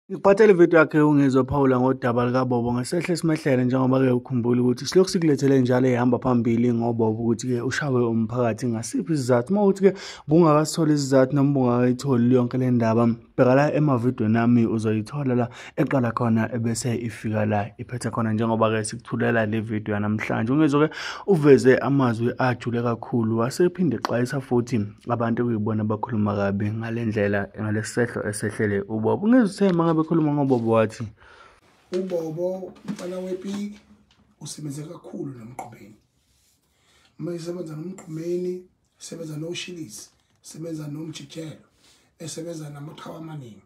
Ngikuphathele ividiyo yakhe uNgizwe Phawula ngodaba likaBobo ngesehle simehlele njengoba-ke ukhumbula ukuthi silokhu sikulethele njalo ehamba phambili ngoBobo ukuthi-ke ushawe umphakathi ngasiphi isizathu uma ukuthi-ke bungakasitholi isizathu noma bungakayitholi yonke le ndaba bheka la emavidweni nami uzoyithola la eqala khona ebese ifika la iphethe khona njengoba-ke sikuthulela le vidiyo yanamhlanje ungizwe-ke uveze amazwi ajule kakhulu wasephinde exwayisa futhi abantu okuyibona abakhuluma kabi ngale ndlela ngalesi sehlo esehlele ubobo ungeze uthe uma ngabe ekhuluma ngobobo wathi ubobo umfana wepiki usebenze kakhulu nomqhubeni uma esebenza nomqhumeni esebenza noshilisi esebenza nomjijelo esebenza namaqhawe amaningi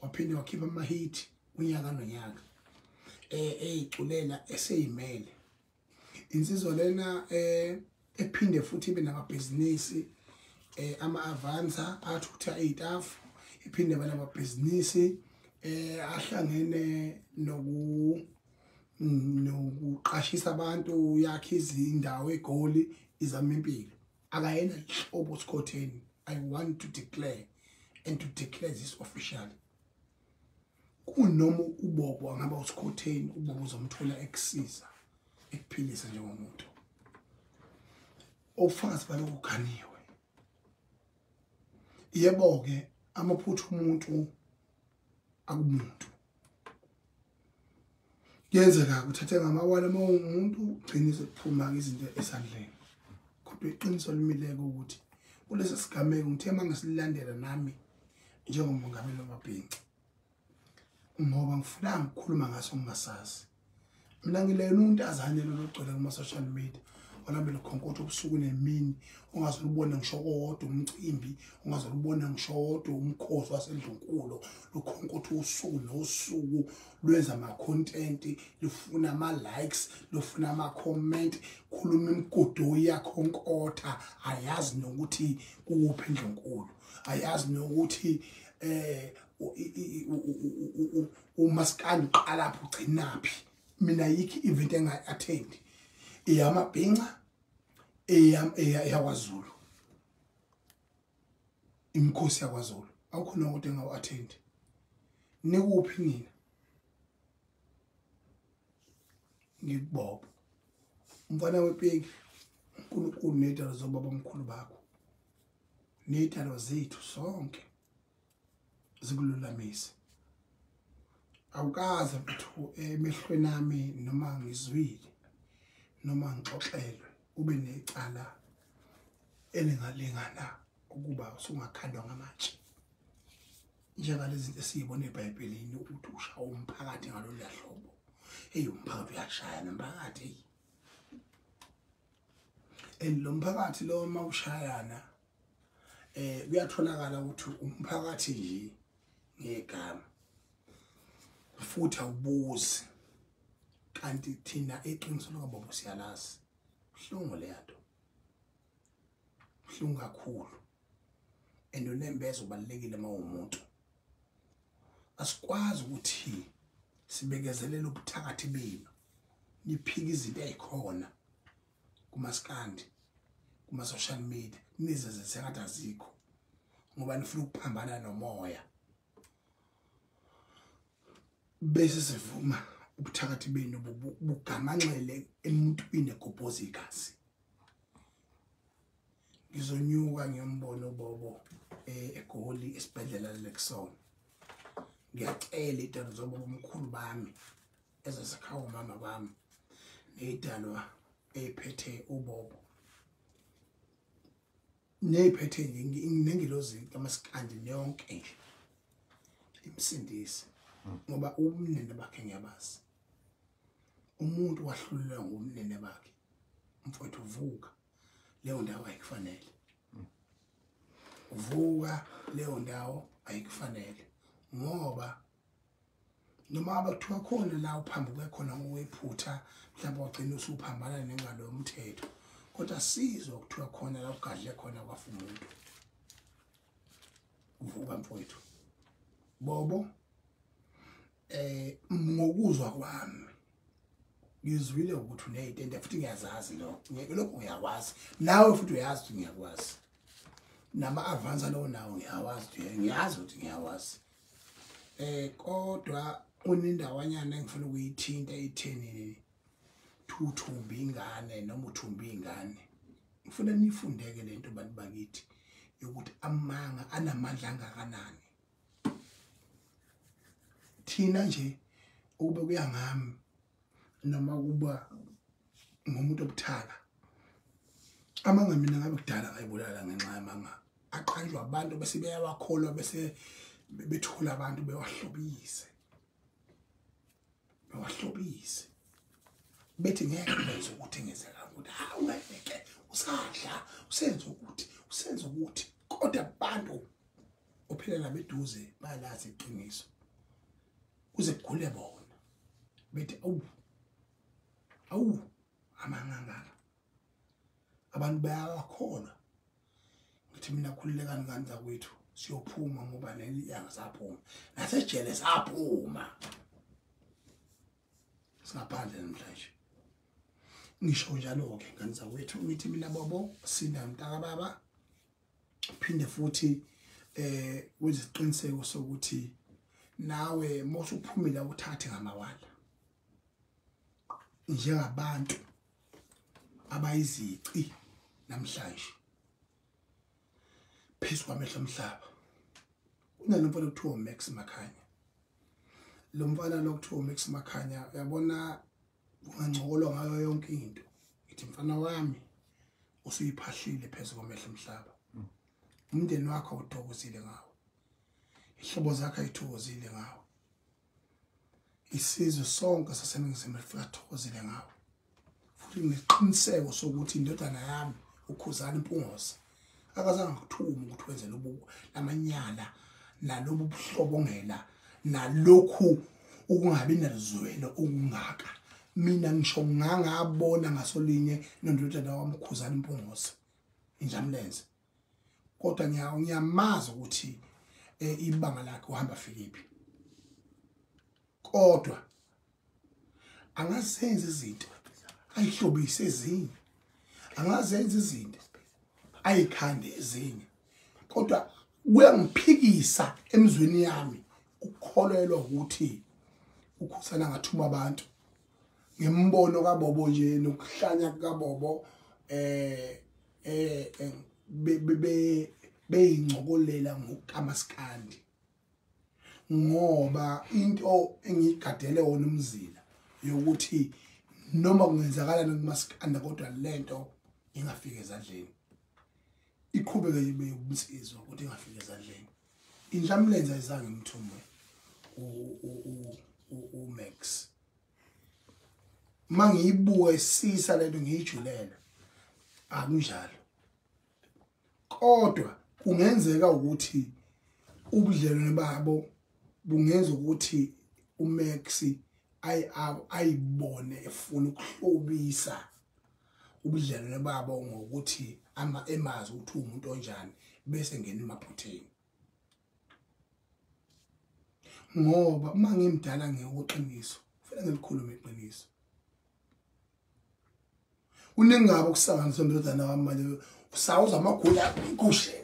waphinde wakhipha amahithi unyaka nonyaka um eyiculela eseyimele insizwa lena eh ephinde futhi ibe namabhizinisi eh ama-avansa athutha iy'tafu iphinde bana amabhizinisi eh ahlangene noku nokuqashisa abantu yakhe izindawo egoli izama impilo akayena hlobo sikhotheni i want to declare and to declare this officially kunoma ubobo angaba usikhotheni ubobo uzomthola ekusiza ekuphilisa njengomuntu ofakazi balokhu ganiwe yebo-ke amaphutha umuntu akumuntu kuyenzeka kuthathe ngamawala uma ungumuntu ugcine sekuphuma-ke izinto esandleni kodwa iqiniso limileke ukuthi kulesi sigameko ngithe uma ngisilandela nami njengomongameli wamabhinci ngoba ngifunanga ukukhuluma ngaso ngingasazi mina ngileyona untazane lologcwele kuma-social media walambela ukhonkotho ubusuku nemini ungaze ulubone ngisho kodwa umcimbi ungaze ulubone ngisho kodwa umkhosi wasendlunkulu lukhonkotho usuku nosuku lwenza ama-content lufuna ama-likes lufuna ama-comment khuluma imigudu yakhonkotha ayazi nokuthi kuwuphi endlunkulu ayazi nokuthi um umasikandi uqalaphi ugcinaphi mina yikho i-event engayi-athendi eyamabhinca eyakwazulu imikhosi yakwazulu awukho noko kodwa engawu-athendi nikuphi nina ngikubobo umfana wepeki unkulunkulu ney'dalo zobaba omkhulu bakho ney'dalo zethu sonke zikululamise awukaze mthu emehlweni ami noma ngizwile noma ngixoxelwe ube necala elingalingana ukuba usungakhandwa ngamatshe njengalezi zinto esiyibona ebhayibhelini ukuthi ushawa umphakathi ngalolu lahlobo eyi umphakathi uyashaya nomphakathi eyi and lo mphakathi lo uma ushayana eh kuyatholakala ukuthi umphakathi nje ngegama futhi awubuzi kanti thina eqiniso lokababa siyalazi uhlungu leyanto uhlungu kakhulu and unembeza ubalekile uma umuntu asikwazi ukuthi sibekezelele ubuthakathi benu niphika izinto ezikhona kumaskandi kuma-social media nizenze sengathi azikho ngoba nifuna ukuphambana nomoya bese sivuma ubuthakathi benu bugamanxele emuntwini egobhoza igazi ngizonyuka ngiyombono bobo eh, egoli esibhedlela lexon ngiyacela itando zobo omkhulu bami ezasakhawo mama bami neyidalwa eyiphethe ubobo neyiphethe nengilozi kamasikandi neyonke nje imsindise hmm. ngoba umnene bakhe ngiyabazi umuntu wahlulelwa ngumnene bakhe mfowethu vuka leyo ndawo ayikufanele hmm. vuka leyo ndawo ayikufanele ngoba noma abathiwa khona la uphambi kwekhona ngowephutha mhlawumbe wagcina usuphambana nengalo yomthetho kodwa sizwa kuthiwa khona la ugadle khona kwafa umuntu uvuka mfowethu bobo eh ngokuzwa kwami ngizwile ukuthi unezitende futhi ngiyazazi lo ngeke lokho ngiyakwazi nawe futhi uyazi ukuthi ngiyakwazi nama avansa lowo nawo ngiyawazi ngiyazi ukuthi ngiyawazi eh kodwa unendawanyana engifuna ukuyithinta itheni thuthumbi ingane noma uthumbi ingane ngifuna nifundeke lento bantu bakithi yokuthi amanga anamandla angakanani thina nje ukube kuyangami noma kuba ngomuntu obuthaka amanga mina ngabe kudala ngayibulala ngenxa yamanga aqanjwa abantu bese beyawakholwa bese bethula abantu bewahlobise bewahlobise bethi ngeke benze ukuthi ngenzeka ukuthi hawu ngeke usadla usenze ukuthi usenze ukuthi kodwa abantu ophilela beduze bayalazi iqiniso kuze kugule bona bethi awu awu amangangaka abantu bayakholwa ngithi mina khululekani ngani zakwethu siyophuma ngoba leli yanga saphuma nasejele saphuma singaphandle namhlanje ngisho njalo-ke ngani zakwethu ngithi mina bobo sinda mntaka baba phinde futhi eh wenze isiqiniseko sokuthi nawe mosuphumile uthathe ngamawala njengabantu abayizici namhlanje phezu kwamehlo omhlaba kunalo mfana okuthiwa Max Makhanya lo mfana lokuthiwa Max Makhanya uyabona ungangcokolwa ngayo yonke into ithi mfana wami usuyiphahlile phezu komehlo mhlaba umndeni wakho uthokozile ngawo ihlobo zakhe ayithokozile ngawo isizwe sonke saseningizimu lifika thokozile ngawo futhi ngiqiniseko sokuthi indodana yami ukhuzana impungosa akazange ngithuma ukuthi wenze lobu lamanyala nalobu buhlobongela nalokhu ukungabi nelizwelo okungaka mina ngisho ngangabona ngasolinye nondodana wamkhuzana impungose injamlenze kodwa ngiyamazi ukuthi eh, ibanga lakhe uhamba fikiphi kodwa angazenza izinto ayihlobise ezinye angazenza izinto ayikhande ezinye kodwa kuyangiphikisa emzweni yami ukukholelwa ukuthi ukhusana ngathuma abantu ngembono kabobo nje nokuhlanya kukabobo eh eh, eh beyincokolela ngokamaskandi ngoba into engiyigadele wona umzila yokuthi noma kungenzakalani kumaskanda kodwa lento ingafika ezadleni iqhubeke yime yobunsizwa ukuthi ingafiki ezandleni inhlamlenza izange imthumbe umax uma ngiyibuka isisa lento ngiyijulele akunjalo kodwa kungenzeka ukuthi ubudlelwane babo bungenza ukuthi umax ayibone efuna ukuhlobisa ubudlelwane babo ngokuthi ama emazi ukuthi umuntu onjani bese ngena emaphutheni ngoba uma ngimdala ngeyokuqiniso kufanele ngilikhulume iqiniso kunengaba ukusanganisa ndodana wami manje usawuza amagula igushe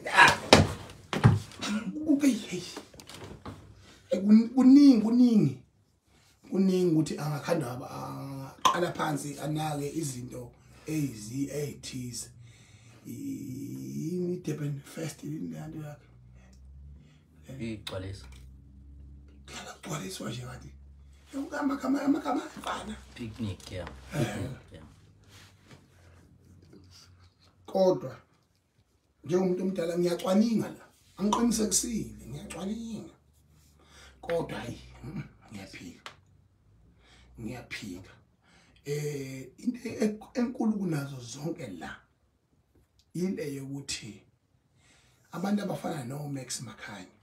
kuningi kuningi kuningi ukuthi angakhanda aqala phansi anake izinto eyizi eyithize yini Durban Fest inento yakhe igcwalisa khala gcwaliswa nje kanti yokama kama amakama afana picnic yeah eh. kodwa njengomuntu omdala ngiyacwaninga la angiqinisekisile ngiyacwaninga kodwa hayi mm, ngiyaphika ngiyaphika eh into e-, enkulu kunazo zonke la ile yokuthi abantu abafana no Max Makhanya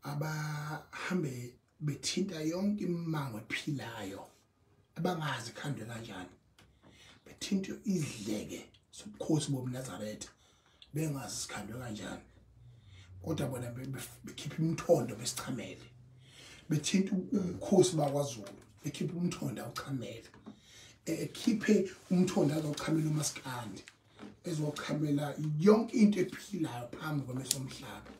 abahambele bethinta yonke imimango ephilayo abangazi khandwe kanjani bethinta izidleke sobukhosi bobunazaretha bengazi sikhandwe kanjani kodwa bona bekhipha imthondo besichamele bethinta ubukhosi bakwazulu bekhipha umthondo awuchamele ekhiphe umthondo azochamela umaskandi ezochamela yonke into ephilayo phambi kwamesomhlaba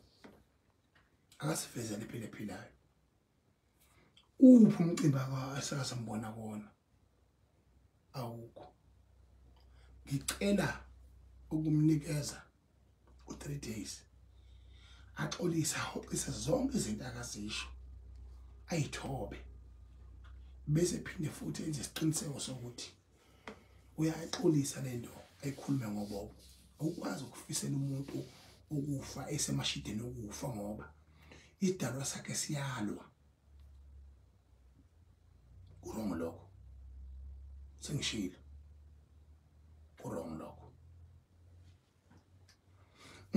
akasifezele iphile philayo uphi umcimbi asakasambona kona awukho ngicela ukumnikeza u3 days axolisa hoxisa zonke izinto akazisho ayithobe bese phinde futhi enze isiqiniseko sokuthi uyaxolisa lento ayikhulume ngobobo awukwazi ukufisela umuntu ukufa esemashideni okufa ngoba idalwa sakhe siyalwa kurong lokho sengishilo kurong lokho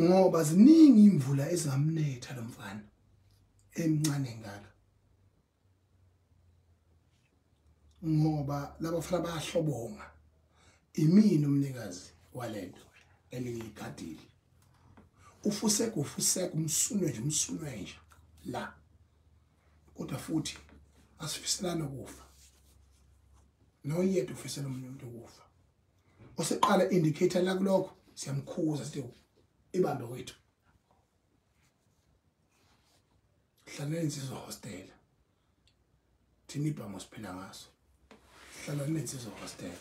ngoba ziningi imvula ezingamnetha lomfana emncane ngaka ngoba laba fana bayahlobonga imini umnikazi walento elingigadile ufuseka ufuseka umsunwe nje umsunwe nje la kodwa futhi asifiselana ukufa noyedwa ufisela omunye umuntu ukufa oseqala indicator la kulokho siyamkhuza sithi ibambe wethu hlala insizwa hostela thina ibhango siphila ngaso hlala nensizwa hostela